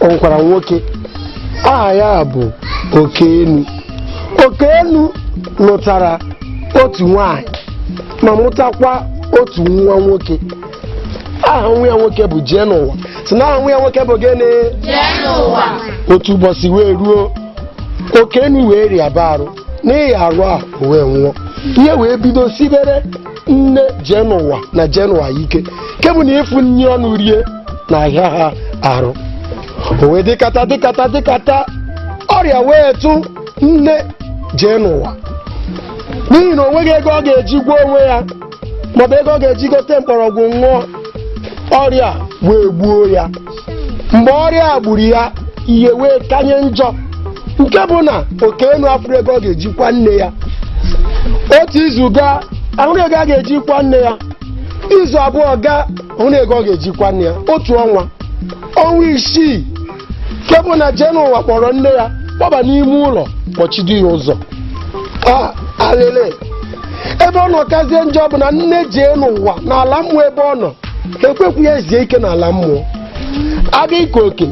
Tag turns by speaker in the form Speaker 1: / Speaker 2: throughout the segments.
Speaker 1: o nwekwara nwoke aha ya bụ Okenu Okenu lụtara otu nwanyị ma mụtakwa otu nwa nwoke aha nwa ya nwoke bụ Jeenụwa sị na aha nwa ya nwoke bụ gịnị otu ụbọchị wee ruo Okenu wee rịaba arụ n'ihi arụ a o wee nwụọ ihe wee bido sibere nne Jeenụwa na Jeenụwa ike nke bụ na ịfụ nri ọnụ rie na-ahịa ha arụ o wee dịkata dịkata dịkata ọrịa wee tụ nne Jeenụwa n'ihi na o nweghị ego ọ ga-eji gwọọ onwe ya maọbụ ego ọ ga-eji gote mkpọrọgwụ ṅụọ ọrịa wee gbuo ya mgbe ọrịa a gburu ya ihe wee kanye njọ nke bụ na Okenu afụrụ ego ọ ga-eji kwa nne ya otu izu gaa ahụrụ ego a ga-eji kwa nne ya izu abụọ gaa ahụrụ ego ọ ga-eji kwa nne ya otu ọnwa ọnwa isii nke bụ na Jeenụwa kpọrọ nne ya kpọba n'ime ụlọ kpọchido ya ụzọ alele ebe ọ nọ kazie njọ bụ na nne Jeenụwa n'ala mmụọ ebe ọ nọ ekwekwu ya ezu ike n'ala mmụọ a bịa ike oke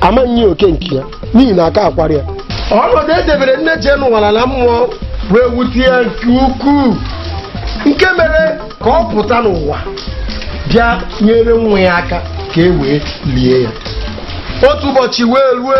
Speaker 1: amaghị nye oke nke ya n'ihi na aka akwara ya ọnọdụ e debere nne Jeenụwa n'ala mmụọ wee wute ya nke ukwuu nke mere ka ọ pụta n'ụwa bịa nyere nwa ya aka ka e wee lie ya otu ụbọchị wee rue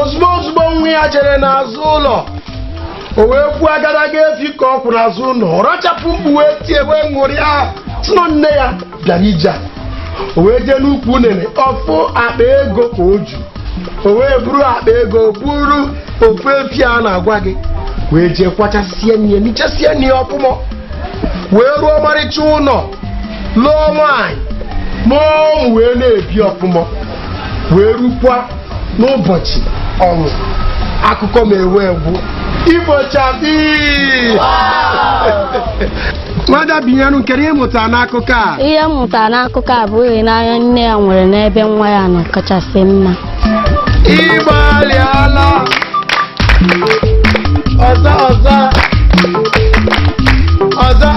Speaker 1: ozugbo ozugbo nwa ya jere n'azụ ụlọ o wee fụ agadaga efi ka ọ kwụ n'azụ ụlọ ọ rachapụ mkpu wee tie wee ṅụrịa sị na nne ya bịara ije a. o wee jee n'ukwu unene ọ fụ akpa ego ka o ju o wee buru akpa ego buru ofu efi a na-agwa gị wee jee kwachasie nne ya nichasie nne ya ọfụma wee rụọ ọmarịcha ụlọ lụọ nwaanyị mụọ ụmụ wee na-ebi ọfụma wee rukwa n'ụbọchị ọnwụ akụkọ m ewee gwụ ibochabi nwada Binyerum kedụ ihe ị mụtara n'akụkọ a ihe m mụtara n'akụkọ
Speaker 2: a bụ ịhụnanya nne ya nwere n'ebe nwa ya nọ kachasị mma ị
Speaker 1: gbalịala ọzọ